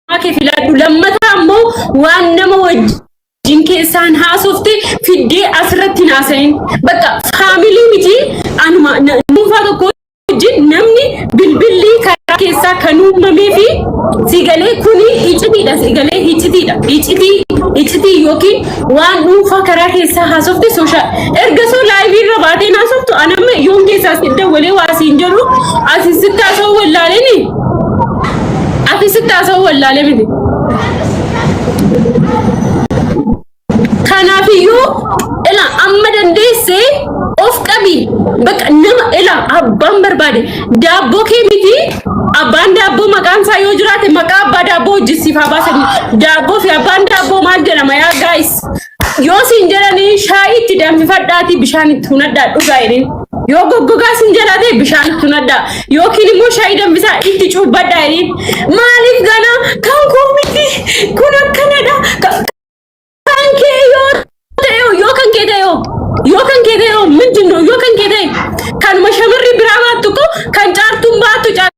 Maa kee filaadhu lammataa ammoo waan nama wajjin keessaan haasofte fiddee asirratti hin haasayin. Bakka faamilii miti anuma na- dhuunfaa tokko wajjin namni bilbilli karaa keessaa kan uumamee fi sigalee kuni hicitiidha sigalee hicitiidha hicitii hicitii yookiin waan dhuunfaa karaa keessaa haasofte sooshaa erga soo laayivii irra baatee haasoftu anamma yoon keessaa si dawwalee waa siin jedhu asi sitti haasa'uu wallaaleenii. Ati sitti haasa'uu wallaalee miti. Kanaafiyyuu ila amma dandeesse of qabi. Bakka nama ila abbaan barbaade daabboo kee miti abbaan daabboo maqaan isaa yoo jiraate maqaa abbaa daabboo hojjisiif haa baasanii. Daabboo fi abbaan daabboo maal jedhama yaa gaayis. Yoo siin jedhanii shaayii itti danfifadhaatii bishaan itti hunadhaa dhugaa jedhin. Yoo goggogaa siin jedhate bishaan itti hunadhaa. Yookiin immoo shaayii danfisaa itti cuubbadhaa jedhin. Maaliif ganaa kan koo miti kun akkanadha. Ka- Kan kee yoo ta'e hoo, yoo kan kee ta'e hoo, yoo kan kee ta'e hoo, miti nu- yoo kan kee ta'e kanuma shamarri biraa baattu koo kan caartuun baattu caartuu.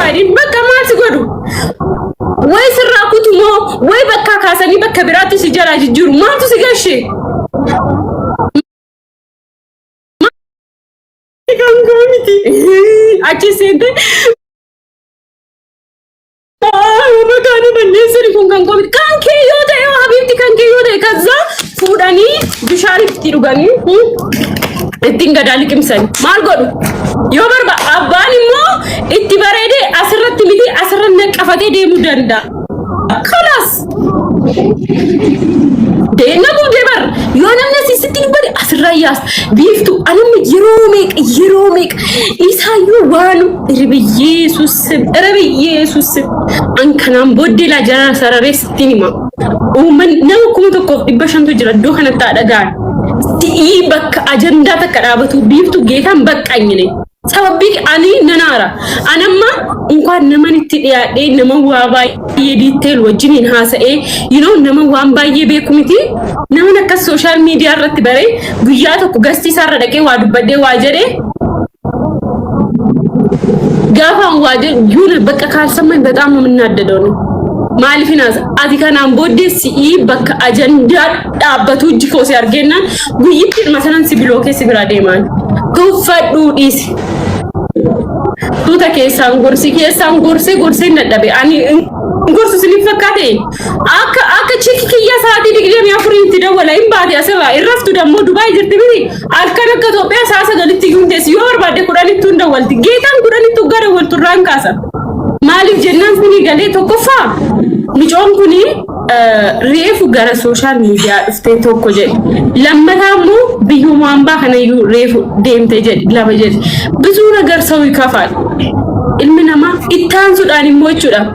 Baay'een bakka maal si godhu? Way sirraa kutu moo way bakkaa kaasanii bakka biraatti si jalaa jijjiiru maaltu si gashe? Kan koo miti. Achi seente. Bakka ani balleessani kun kan koo miti. Kan kee yoo ta'e yoo habiibti kan kee yoo ta'e kazzaa Fuudhanii bishaan itti dhuganii hmm, ittiin gadaa liqimsani. Maal godhu? Yoo barba abbaan immoo itti bareedee asirratti miti asirra naqafatee deemuu danda'a. Kalaas deemna gubdee bar yoo namni asii sitti dubbate asirraa yaas biiftu anamni yeroo meeqa yeroo meeqa isaayyuu waanu irbi yeesuusin irbi yeesuusin an kanaan booddee laa jara sarareessa. Sitti hima. Uummanni nama kuma tokkoof dhibba shantu jira iddoo kanatti haa dhaga'an. Si'ii bakka ajandaa takka dhaabatu biiftu geetaan baqqanyine. Sababbii ani nan aara. An amma unkaan naman itti dhiyaadhee nama waa baay'ee diitteel wajjiniin haasa'ee you know, nama waan baay'ee beeku miti. Naman akkas sooshaal miidiyaa irratti baree guyyaa tokko gastii isaarra dhaqee waa dubbadhee waa jedhee gaafaan waa jedhu yuun bakka kaarsamman bexaam nu minnaaddadoon maaliif hinaasa ati kanaan booddee si'ii bakka ajandaa dhaabbatuu jikoo si argennaan guyyitti ilma sanan si biloo keessi biraa deemaan tuffadhuu dhiisi. Tuuta keessaan gorsi keessaan gorse gorseen dadhabe ani gorsu siniif fakkaate akka akka chiki kiyya sa'aatii digdamii afuriitti dawwala hin baate asirraa irraftu dammoo Dubaay jirti miti. Halkan akka Itoophiyaa sa'a sagalitti iyyuu hin teessu. Yoo barbaadde kudhanittuu hin dawwalti. Geetaan kudhanittuu gara waltu irraan kaasa. Maaliif jennaan kuni galee tokkoffaa micoon kuni eh, reefu gara sooshaal miidiyaa dhuftee tokko jedhe. Lammataa immoo biyyuma hambaa kana iyyuu reefu deemte jedhe lama jedhe. Bizuu nagar sawi kafaal. Ilmi namaa itti aansuudhaan immoo jechuudha.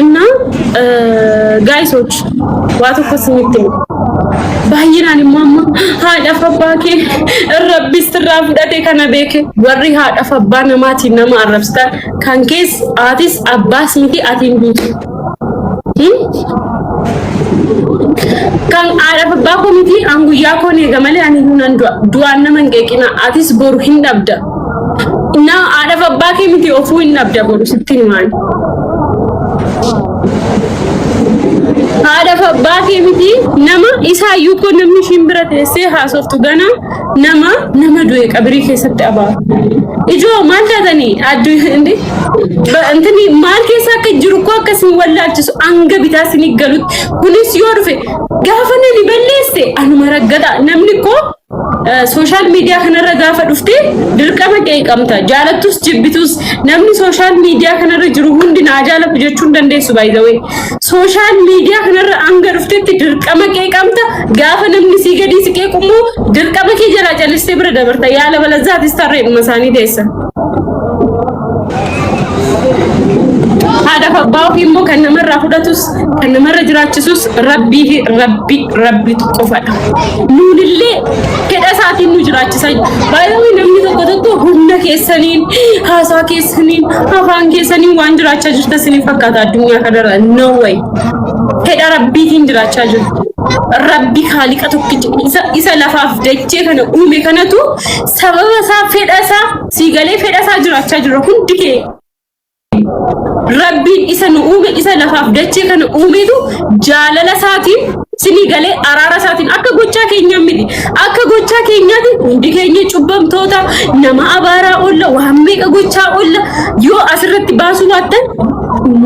እና ጋይሶች waa tokko isinitti himu baay'inaan immoo amma haadhaaf abbaa kee rabbis irraa fudhate kana beeke warri haadhaaf abbaa namaatiin nama arrabsitan kan kees aatis abbaas miti atiin duutu kan haadhaaf abbaa koo miti an guyyaa koon eega malee ani hunan du'aan nama hin qeeqina atis boru hin dhabda Na haadhaaf abbaa kee miti ofuu hin dhabda boru sitti himaan. Haadhaaf abbaa kee miti nama isaa iyyuu koo namni ishiin bira teessee haasoftu gana nama nama du'e qabirii keessatti abaa. Ijoo maal taatanii addu hindi intini maal keessa akka jiru koo akka isin wallaalchisu hanga bitaa isin galutti kunis yoo dhufe gaafa nani balleesse anuma raggata namni koo Sooshaal miidiyaa kanarra gaafa dhufte dirqama qeeqamta. Jaalattus jibbitus namni sooshaal miidiyaa kanarra jiru hundi naa jaalatu jechuun dandeessu baay'ee. Sooshaal miidiyaa kanarra hanga dhuftetti dirqama qeeqamta. Gaafa namni sii gadii si qeeqummoo dirqama kee jalaa calistee bira dabarta. Yaala balazaatis tarreedhuma isaanii teessa. Haadhaaf abbaa ofii immoo kan namarraa fudhatus kan namarra jiraachisus rabbii fi rabbi rabbitu qofadha. Nuunillee fedha isaatiin nu jiraachisa. Baay'ee namni tokko tokko humna keessaniin, haasaa keessaniin, afaan keessaniin waan jiraachaa jirta isiniif fakkaata addunyaa kanarra. No way. Fedha rabbiitiin jiraachaa jirtu. Rabbi haaliqa tokkicha isa, isa lafaaf dachee kana uume kanatu sababa isaa fedha isaa Sii galee fedha isaa jiraachaa jira hundi kee. Rabbiin isa nu uume isa lafaaf dachee kana uumetu jaalala isaatiin sinii galee araara isaatiin akka gochaa keenyaa miti. Akka gochaa keenyaati hundi keenya cubbamtoota nama abaaraa oolla waan meeqa gochaa oolla yoo asirratti baasuu baattan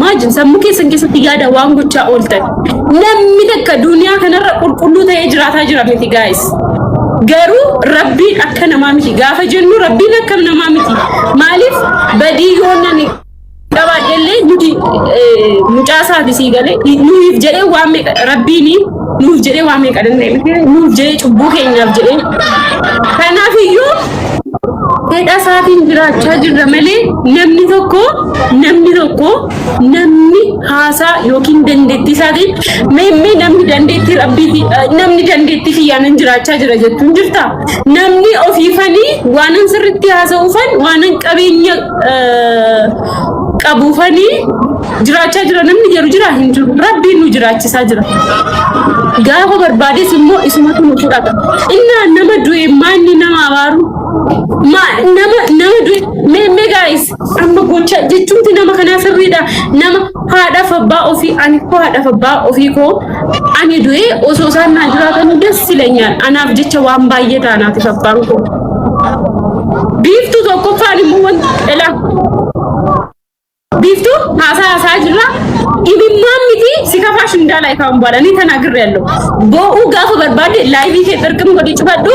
maajin sammuu keessan keessatti yaada waan gochaa ooltan. Namni takka duniyaa kanarra qulqulluu ta'ee jiraataa jira miti gaa'is. Garuu rabbiin akka namaa miti gaafa jennu rabbiin akka namaa miti maaliif badii yoo nani qabaadhellee nuti mucaasaa fi sii galee nuuf jedhee waan meeqa rabbiin nuuf jedhee waan meeqa danda'e nuuf jedhee cubbuu keenyaaf jedhee kanaaf iyyuu fedha isaatiin jiraachaa jirra malee namni tokko namni tokko namni haasaa yookiin dandeettii isaatiin mee mee namni dandeettii rabbiiti namni dandeettii kiyyaanan jiraachaa jira jettuun jirta namni ofiifanii waanan sirritti haasa'uufan waanan qabeenya qabuufanii jiraachaa jira namni jedhu jira hin jiru rabbiin nu jiraachisaa jira gaafa barbaades immoo isumatu nu fudhata innaa nama du'e maanni nama abaaru nama nama du'e mee mee gaa'is Amma gocha jechuumti nama kanaa sirriidha. Nama haadhaaf abbaa ofii ani koo haadhaaf abbaa ofii koo ani du'ee osoo isaan naa jiraatanii das silanyaan anaaf jecha waan baay'ee taanaatiif abbaan koo. Biiftuu tokkoffaan immoo wanti dhala. Biiftuu haasaa haasaa jirra. Imimmaan miti si kafaa shindaala ifaan baalanii tanaa girre allo. Boo'uu gaafa barbaade laayivii kee xirqim godhi cufadhu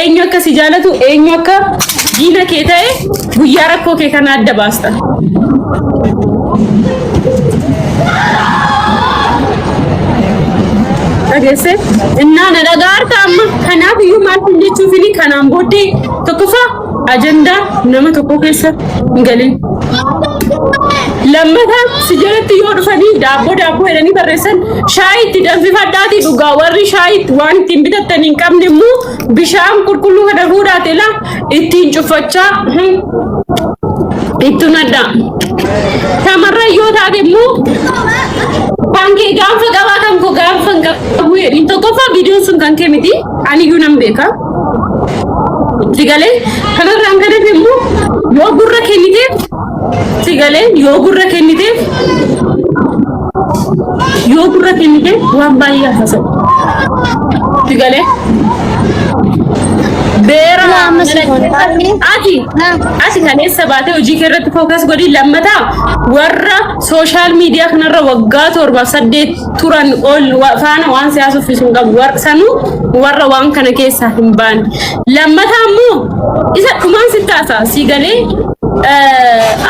Eenyu akka si jaalatu, eenyu akka diina kee ta'e guyyaa rakkoo kee kana adda baasta. Dhageesse? Innaa na dhagaarta amma. Kanaaf iyyuu maal kun jechuuf inni kanaan booddee tokkoffaa ajandaa nama tokko keessa hin galin. Lammataa si jalatti yoo dhufanii daabboo daabboo jedhanii barreessan Shaayii itti danfifadhaati dhugaa warri shaayii itti- waan ittiin bitattan hin qabne immoo bishaan qulqulluu kana fuudhaati la ittiin cuffachaa hmm, itti nadhaa. Shamarran yoo taate immoo kan kee gaanfa qabaa kan koo gaanfa hin qabu jedhin tokkoffaa viidiyoon sun kan kee miti aniyyuu nan beeka. Itti galee kanarraan kan hafe immoo yoo gurra kenniteef Si galee yoo gurra kenniteef yoo gurra kenniteef waan baay'ee haasa'u. Si galee beera Waa amma si godha. Baay'ee. ati Naa. asi kaleessa baatee hojii kee irratti fookas godhi lammataa warra sooshaal miidiyaa kanarra waggaa torbaaf saddeet turan ol wa- faana waan siyaasa uffisuun qabu War- sanuu warra waan kana keessaa hin baane Lammataa immoo isa dhumaan sitti haasaa sii galee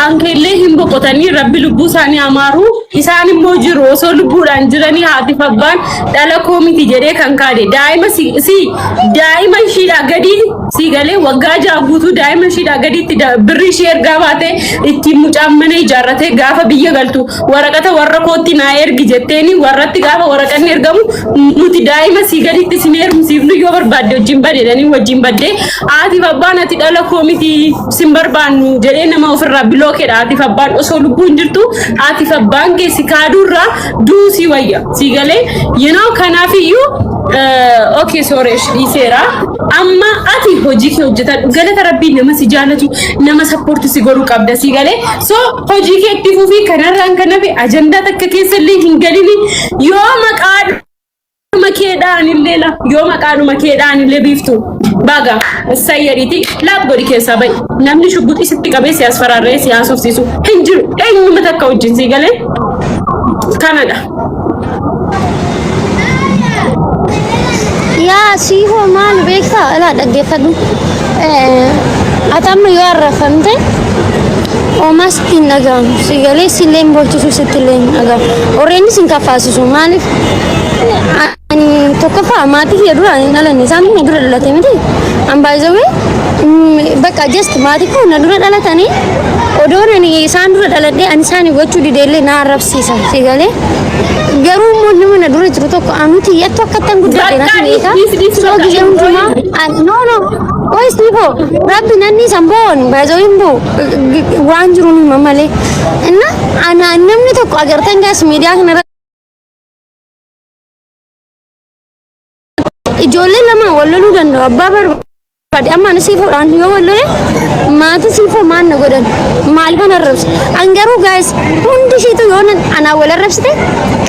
aankeellee hin boqotanii rabbi lubbuu isaanii amaaru isaan immoo jiru osoo lubbuudhaan jiranii haatiif abbaan dhala koo miti jedhee kan kaade daa'ima si si- daa'ima ishiidhaa gadii sii galee waggaa ja'a guutuu daa'ima ishiidhaa gadiitti da- birri ishii ergaa baatee ittiin mucaan mana ijaarratee gaafa biyya galtu waraqata warra kootti naa ergi jetteeni warratti gaafa waraqanni ergamu nuti daa'ima sii gaditti sin heerumsiifnu yoo barbaadde wajjin badeedhanii wajjin baddee haatiif abbaan ati dhala koo miti sin barbaannu jedhee nama ofirraa biloo keedha haatiif abbaan osoo lubbuun jirtu haatiif abbaan kee si kaaduurraa duu sii wayya sii galee yenoo kanaafiyyuu okay sorry dhiiseera amma ati hojii kee hojjetadhu galata rabbii nama si jaalatu nama sappoorti si godhu qabda sii galee so Hojii kee itti fufii kanarraan kan hafe ajandaa takka keessa illee hin galini yoo maqaa dhuma keedhaan illee la yoo maqaa dhuma keedhaan illee biiftu baga sayyariiti laaf godhi keessaa ba'i namni shugguxii sitti qabee siyaas faraarree siyaas ufsiisu hin jiru eenyuma takka wajjin sii galee kanadha. Yaa sii hoo maal beektaa? Ilaa dhaggeeffadhu. Ati amma yoo arrafamte oomaa sitti hin dhagahamu. Si galee si illee hin boochisuu sitti illee hin dhagahamu. Orreenis hin kaffaasisu. Maaliif? Tokkoffaa maatii kiyya dura hin dhalanne isaan na dura dhalate miti. An baay'isawee bakka just maatii koo na dura dhalatanii odoo ani isaan dura dhaladhee ani isaan gochuu dideellee na arrabsiisa si galee. Garuu immoo nama na dura jiru tokko anuti yattu akka ittiin guddate na simeeta. Soo gizee hundumaa no no qoyis ni boo rabbi nanni san boon baay'isoo hin boo waan jiru ni mamalee. Inna ana namni tokko agartan gaas miidiyaa kanarra Ijoollee lama wal loluu danda'u abbaa barbaade amma ani siif hodhaan yoo wal lole maatii siif hoo maal na godhan maal kan arrabse an garuu gaa'is hundi ishiitu yoo na- anaa wal arrabsite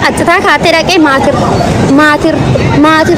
qaxxitaa kaatee dhaqee maatir maatir maatir